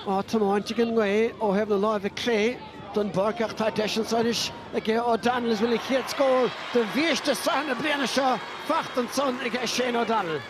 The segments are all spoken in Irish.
á tiomáint ag an ngaoth ó thaobh na láimhe clé den bpáirc ach tá deis anso anois aige O'Donnell agus bhfuil a chéad scór de bhiaiste sraithe na bliana seo faighte ansan aige Shane O'Donnell.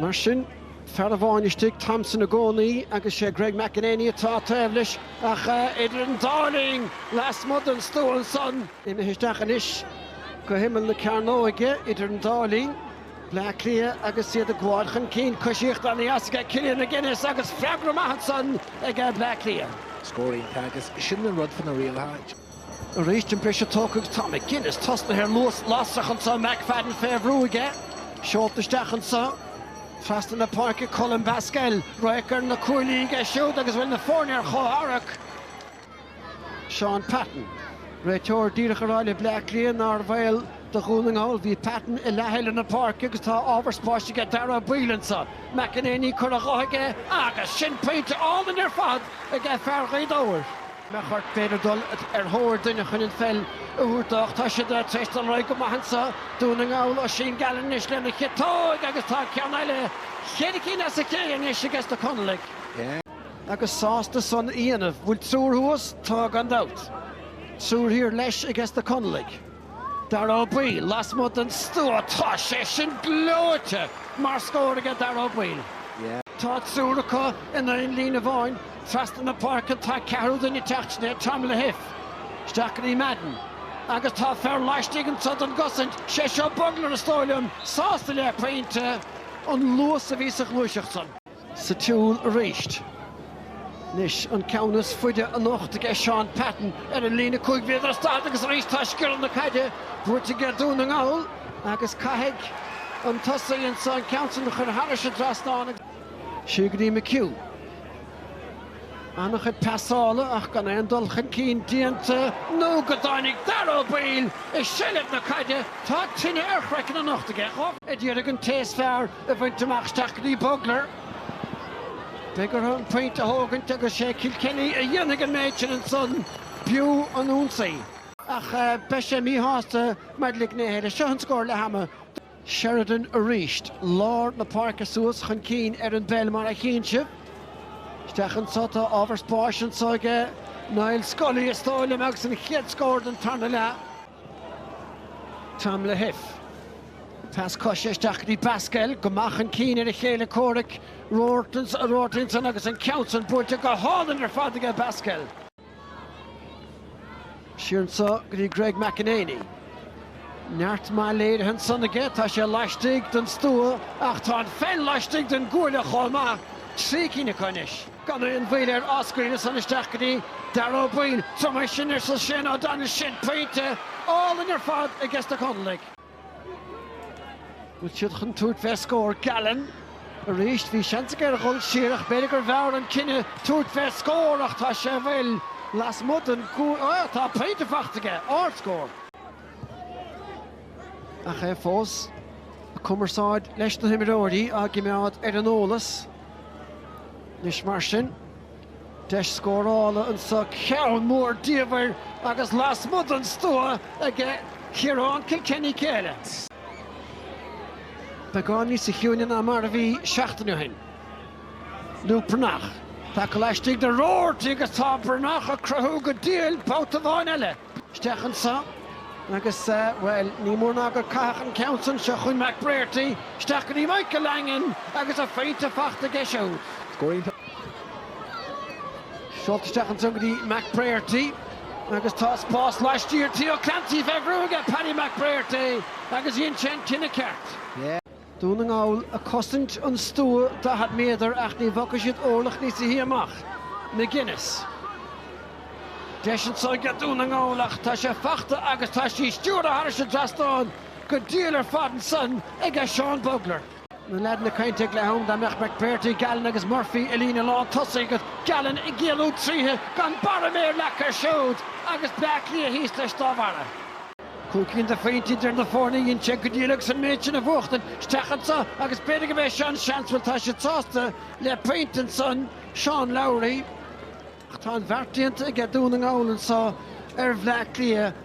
Mar sin, fear amháin istigh, Thompson i gcónaí agus sé Greg McEneaney atá taobh leis ach idir an dá linn, lasmuigh den stua ansan, imithe isteach anois go himeall na cearnóige idir an dá linn. Bleá Cliath agus iad ag gabháil chun cinn. Cois uachtar an easa aige Killian McGinnis agus freagra maith ansan ag Bleá Cliath. Scór iontach agus sin an rud faoi na rialacha. Arís an briseadh tógtha agus tá McGinnis tosnaithe ar luas lasrach ansan, McFadden fé bhrú aige, seolta isteach ansan, trasna na páirce, Colm Basquel, radharc ar na cuaillí aige siúd agus bhfuil na foirne ar chomhtharrac. Shaun Patton, réiteoir díreach á rá le Bleá Cliath nár bhaol do Dhún na nGall. Bhí Patton i leath eile na páirce agus tá ábhar spáis aige Dara Ó Baoill anseo. McEneaney, curtha dho aige agus sin pointe álainn ar fad ag fear Ghaoth Dobhair. Meachair, b'fhéidir dul ar thóir duine chun an pheil a thabhairt dó ach tá siad tar éis dul ar aghaidh go maith anseo, Dún na nGall. Oisín Gallen anois lena chiotóig agus tá ceann eile, cheithre cinn as a chéile anois ages na Conallaigh. Agus sásta san a dhéanamh. Bhfuil triúr thuas? Tá gan dabht. Triúr thiar leis ages na Conallaigh. Dara Ó Baoill lasmuigh den stua. Tá sé sin gleoite mar scór aige Dara Ó Baoill. Tá triúr acu in aon líne amháin. Trasna na páirce tá ceathrú duine ag teacht, sin é Tom Lahiff. Isteach go dtí Madden. Agus tá fear laistigh anseo don gcosaint. Sé seo Bugler is dóigh liom. Sásta le pointe. An luas a bhí sa ghluaiseacht san. Sa tsiúl arís. Anois an ceann is faide anocht aige Shaun Patton ar an líne cúig mhéadar is daichead agus arís tá scioradh na caide buaite aige Dún na nGall agus caithfidh an tosaí anseo an ceann sin a chur thairis an trasnán agus siar go dtí McHugh. An-chuid pasála ach gan aon dul chun cinn déanta nó go dtáinig Dara Ó Baoill i seilbh na caide. Tá tine ar chraiceann anocht aige. Dhá mhéadar ag an té is fearr a bhaint amach isteach go dtí Bugler. Beidh orthu an pointe a thógaint agus sé Kilkenny a dhéanfaidh an méid sin ansan, b'fhiú an ionsaí. Ach beidh sé míshásta maidir le gnéithe eile. Seo an scór leath ama. Sheridan arís, lár na páirce suas chun cinn ar an bpeil mar a chíonn sibh. Isteach anso, tá ábhar spáis anso aige Niall Scully is dóigh liom agus an chéad scór den tarna leath. Tom Lahiff. Pas coise isteach go dtí Pascal, go maith chun cinn ar a chéile comhraic, Roarty ansan agus an ceann san buailte go hálainn ar fad aige Pascal. Siar anseo go dtí Greg McEnaney. Neart maith léirithe ansan aige, tá sé laistigh den stua ach tá an pheil laistigh den gcuaille chomh maith. Trí cinn acu anois. Gan aon mhoill ar Oscar ansan isteach go dtí Darragh Ó Baoill. Seo mar sin, arsa Shane Ó Domhnaill Sin pointe álainn ar fad i gceist na Conallaigh. Bhfuil siad chun tabhairt fé scór? Gallen, arís, bhí seans aige ar dhul siar ach b'fhéidir gurbh fhearr an cinneadh tabhairt fé scór ach tá sé bhfuil lasmuigh den Ó, tá pointe fachta aige! Ardscór. Ach é fós, a cumarsáid leis na himreoirí, á gcimeád ar an eolas. Anois mar sin, deis scórála anseo, ceann mór diamhair agus lasmuigh den stua aige Ciarán Kilkenny Kilkenny. Beagán níos ciúine ná mar a bhí seachtain ó shin. Luke Breathnach, taca laistigh de Roarty agus tá Breathnach ag cruthú go diail babhta amháin eile. isteach anso agus, bhuel, ní mór ná gur caitheadh an ceann san anso chun McBrearty, isteach go dtí Michael Langan agus a phointe faighte aige siúd. Scór iontach seolta isteach anso go dtí McBrearty agus tá spás laistiar de Ó Clancy fé bhrú aige Paddy McBrearty agus dhein sé an cinneadh ceart. Dún na nGall a cosaint an stua 40 méadar ach ní bhogfaidh siad orlach níos sia amach. McGuinness. Deis anso aige Dún na nGall ach tá sé fachta agus tá sé stiúrtha thar an trasnán go diail ar fad ansan aige Seán Bugler. Na leaideanna ag caint ag leath am, dá mbeadh McBrearty, Gallen agus Murphy i líne lán tosaigh agat, Gallen ag géilleadh trí chic gan barra méir leagtha air siúd agus Bleá Cliath thíos leis dá bharra. Cúig cinn de phointí idir na foirne dhein sé go diail ansan an méid sin a bhuachtaint isteach anseo agus b'fhéidir go mbeidh sé seo an seans bhuel tá sé sásta le pointe ansan Shane Lowry ach tá an bheart déanta aige Dún na nGall anseo ar Bhleá Cliath.